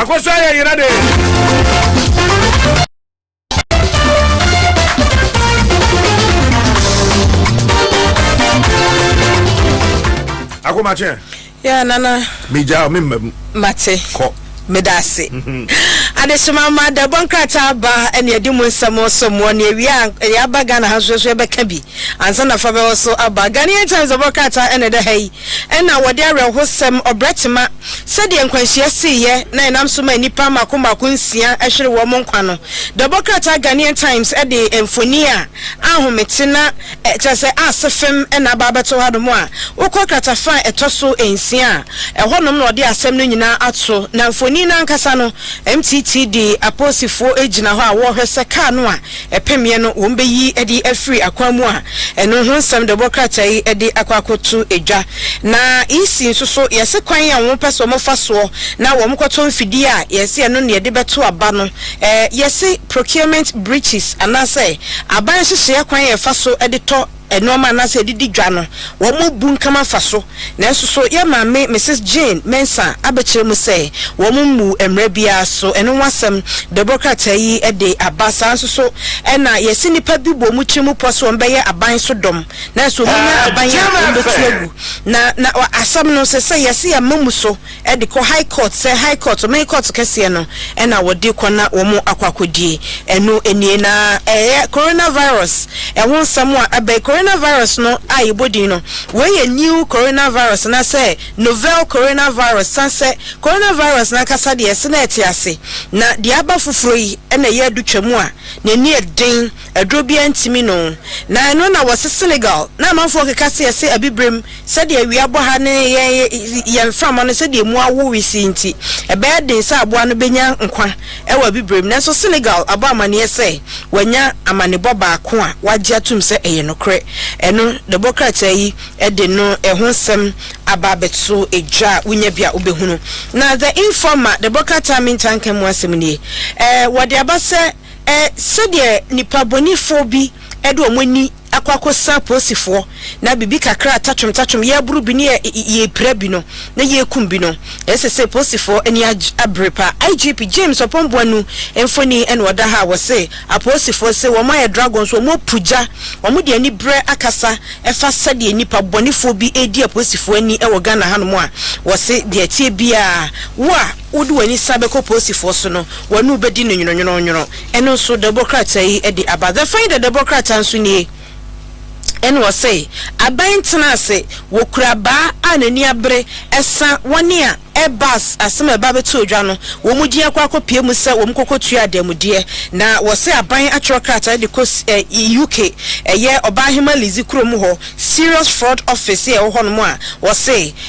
akɔsɔ ayɛ yera de akomakye yɛ nana megya me mmam mate kɔ Meda ase. Adehyema mma da bɔ nkrataa aba ɛne adi mu nsɛm so mmoa ne awia a yɛaba Ghana ha nso so yɛbɛka bi ansa na fa bɛwɔ so aba Ghanaian Times ɛbɔ krataa ɛna ɛda ha yi ɛna wɔde awerɛhosɛm ɔbrɛ tema sɛdeɛ nkwanhyia siiɛ na ɛnam so ma nnipa mako mako nsia ɛhwere wɔn nkwa no da bɔ krataa Ghanaian Times ɛde mfoni a ahomete na Kyerɛ sɛ aase fem na aba abɛto hanom a, wokɔ kratafa a ɛtɔ so nsia a, ɛhɔnom na wɔde asɛm no nyinaa ato, na mfoni no ankasa no, MTT de apolisifoɔ gyina hɔ a wɔrehwɛ sɛ kaa no a ɛpemeɛ no wɔbɛyi de afiri akwan mu a ɛno ho nsɛm de wɔkrataa yi de akɔ akɔto dwa. Na EC nso so yɛse kwan a wɔpɛ sɛ wɔfa soɔ na wɔkɔtɔ mfidie a yɛse ɛno na yɛde bɛto aba no Yɛse procurement breaches anaasɛ aban nhyehyɛɛ kwan a ɛfa so de tɔ nnoɔma anaasɛ ɛde di dwa no wɔn bu nkama fa so, nanso so yɛn maame Misis Jane Mensah abɛkyerɛ mu sɛ wɔn mmu mmara biara so? Ɛno ho asɛm bɛbɔ krataa yi de aba. Saa nso so na yɛse nnipa bi bɔ wɔn tiri mu pɔ sɛ wɔn bɛyɛ aban so dɔm nanso wɔn nya aban a wɔn bɛtu agu na na asɛm no sɛ sɛ yɛse yɛn mma mu so de kɔ high court sɛ high court ɔman court kɛseɛ no ɛna wɔde kɔ na wɔn akɔ akɔdie ɛno nie na ɛyɛ corona virus ɛho nsɛm a ɛbɛyi corona virus no a yɛbɔ din no wei yɛ new corona virus na sɛ novel corona virus san sɛ corona virus no ankasa deɛ ɛse na ɛte ase na deɛ aba foforɔ yi ɛna ɛyɛ adu twa mu a n'ani ɛden Aduro biara ntumi no na ɛno na wɔ se Senegal na amanfoɔ keka se yɛse abibirem sɛdeɛ awia bɔ ha ne yɛn yɛn mframa no sɛdeɛ emu awo wesee nti ɛbɛyɛ den sɛ aboa no bɛnya nkwa wɔ abibirem nanso Senegal abɔ amaneɛ sɛ wanya amanebɔ baako a wagye atom sɛ ɛyɛ nokorɛ ɛno na ɛbɔ krataa yi de no ɛho nsɛm aba abɛto dwa a wonya bi a wobɛhunu na The Informer de bɔ krataa mentanka mu asɛm nie ɛɛ wɔde aba sɛ Sɛdeɛ nnipa bɔnefoɔ bi de wɔn ani akɔ akɔsa apolisifoɔ na biribi kakra a tatwom tatwom, yɛreboro bi ne yɛrepira bi no, na yɛrekum bi no, ɛsɛ sɛ apolisifoɔ ani abere paa. IGP James Oppong Boanu mfoni na ɔda ha a wɔse apolisifoɔ se wɔn ayɛ dragon so, wɔapu gya, wɔde aniberɛ akasa fa sɛdeɛ nnipa bɔnefoɔ bi redi apolisifoɔ ani wɔ Ghana hanom a wɔse deɛ ɛteɛ biara wo a, wode w'ani san bɛkɔ posifoɔ so no, wɔne wo bɛdi no nwononwononwono. Ɛno nso, dawubɔ krataa yi de aba. The Finder dawubɔ krataa nso nie, ɛna wɔse, Aban ntena ase, wɔkura baa a n'ani abere, ɛsa wɔne a ɛbas asɛm a ɛba abɛtoo dwa no, wɔn din akɔ akɔpue mu sɛ wɔn kɔkɔtua adanmudeɛ. Na wɔse aban atwerɛ krataa de kɔ UK, ɛyɛ Ɔbaahema Lizzie kurom hɔ, Serious Fraud Office a ɛwɔ hɔnom a wɔse,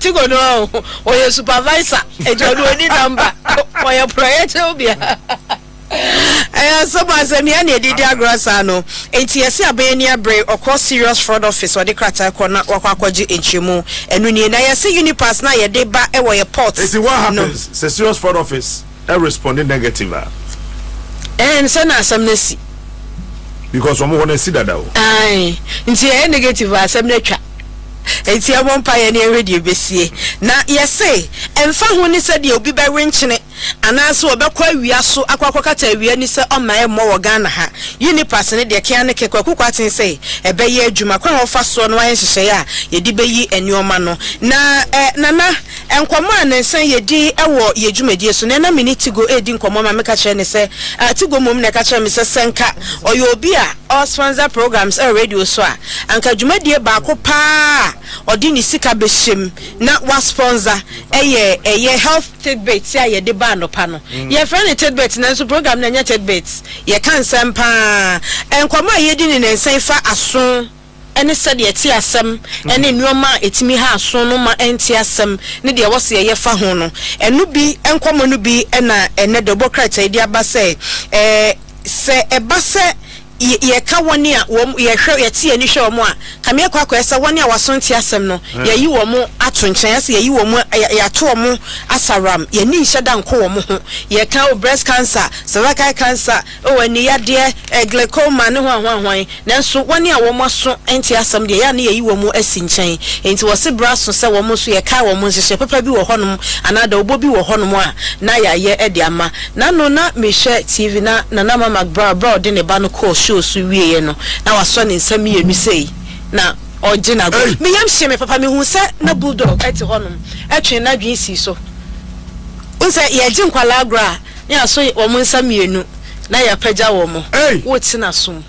tigo no a ɔyɛ supervisor ɛgya no ɔni namba ɔyɛ prɔyɛkyɛw bia ɛyɛ asɛm asɛm yɛ ne ɛdidi agorɔ saa no nti yɛse abɛyɛ ni abere ɔkɔ serious fraud office ɔde krataa kɔ na wakɔ akɔgye nkyerɛmu ɛno nie na yɛse unipass na yɛde ba ɛwɔ yɛ port ɛti what happens sɛ serious fraud office ɛ responde negative a. Ɛɛn sɛ na asɛm no asi. Because wɔn hɔ no asi dada o. Ae nti ɛyɛ negative a asɛm no atwa. Nti yɛbɔ mpaeɛ na yɛnhwɛ deɛ ɛbɛsie. Na yɛse ɛmfa ho ne sɛdeɛ obi bɛwenkyene anaase ɔbɛkɔ awia so akɔ akɔkata awia ni sɛ ɔmma ɛmmɔ wɔ Ghana ha. Unipass no deɛ kea ne kɛ Kwaku Kwarteng sɛ ɛbɛyɛ adwuma. Kwan a wɔfa soɔ na wɔayɛ nhyehyɛeɛ a yɛde bɛyi nnoɔma no na ɛ Nana Nkɔmmɔ a nnansa yi yɛdi wɔ yɛn dwumadie so, na ɛna me ne Tigo redi nkɔmmɔ ma meka kyerɛɛ no sɛ, ah, Tigo mmom na ɛka kyerɛɛ me sɛ, sɛ nka ɔyɛ obi a ɔresponsor programs wɔ radio so a, anka dwumadie baako pa ara a ɔde ne sika bɛhyɛm na wasponsor yɛ ɛyɛ Health Tidbits a yɛde ba anɔpa no. Yɛfrɛ no Tidbits nanso program no ɛnyɛ Tidbits, yɛka nsɛm pa ara. Nkɔmmɔ a yɛdi no nnansa yi fa aso. ne sɛdeɛ ɛte asɛm ne nnoɔma a ɛtumi ha aso no ma ɛnte asɛm ne deɛ ɛwɔ sɛ yɛyɛ fa ho no. Ɛno bi, nkɔmmɔ no bi na ɛnnɛ da Ɔbɔ Krataa yi de aba sɛ, Sɛ ɛba sɛ yɛka wɔn a wɔn, yɛhwɛ, yɛte yɛn ani hwɛ wɔn a, kame akɔ akɔyɛ sɛ wɔn a wɔaso nte asɛm no, yɛayi wɔn ato nkyɛn, ayɛ sɛ yɛayi wɔn, yɛato wɔn asaram, yɛn ani nhyɛ da nko wɔn ho. Yɛka, oh, breast cancer, cervical cancer, Oh, aniyadeɛ, eh, glaucoma ne hwanhwanhwan, nanso wɔn a wɔn aso nte asɛm deɛ, ɛyɛ a na yɛyi wɔn asi nkyɛn. Enti wɔse berɛ aso sɛ wɔn nso yɛkae wɔn nhyehyɛɛ papa bi wɔ hɔnom anaa dawubɔ bi wɔ hɔnom a na yɛayɛ de ama. N'ano na mehwɛ TV na Nana Ama McBrow berɛ a ɔde ne ba no kɔɔ show so wieeɛ no, na wasɔ ne nsa mmienu sei na ɔregye no agu. Me yam hyee me papa, mehuu sɛ na Bulldog te hɔnom, ɛtwee n'adwene sii so. Wohu sɛ yɛregye nkwadaa agorɔ a, Yɛaso wɔn nsa mmienu, na yɛapagya wɔn. Wote n'aso mu.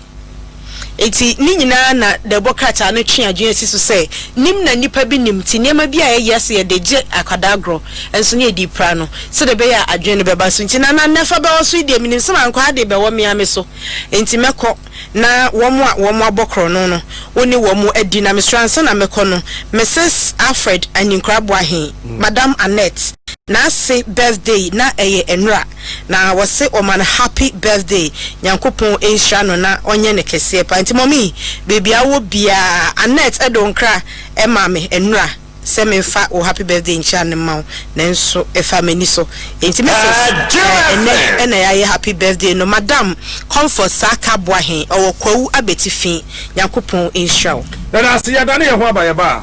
Enti, ne nyinaa na dɛbɔ krataa no twe adwene si so sɛ, Nim na nnipa bi nim nti, nneɛma bi a yɛyɛ sɛ yɛde gye akwadaa agorɔ, nso na yɛde repira no, sɛdeɛ ɛbɛyɛ a adwene no bɛba so nti. Na na Nefa bɛwɔ so yi deɛ, menim sɛ mankwaa de bɛwɔ me ara me so, enti mɛkɔ. Na wɔn a wɔabɔ korɔno no, wo ne wɔn adi. Na mesrɛ, ansa na mɛkɔ no, Mrs. Alfred Anyenkorah Boahen, Madam Annette, n'ase birthday na ɛyɛ nnora, na wɔse wɔma no happy birthday, Nyankopɔn nhyira no na ɔnyɛ no kɛseɛ paa. Nti Mummy, baabi a wowɔ biara, Annette de wo nkra maa me, nnora. sɛ memfa wo happy birthday nkyia no mma wo, nanso ɛfaa m'ani so, enti Mrs. Eh, ɛnnɛ na yɛayɛ happy birthday no, Madam Comfort Saaka Boahen, ɔwɔ Kwawu Abɛti fi, Nyankopɔn nhyira wo. Yɛda ase, yɛdane yɛn ho aba, yɛbaa.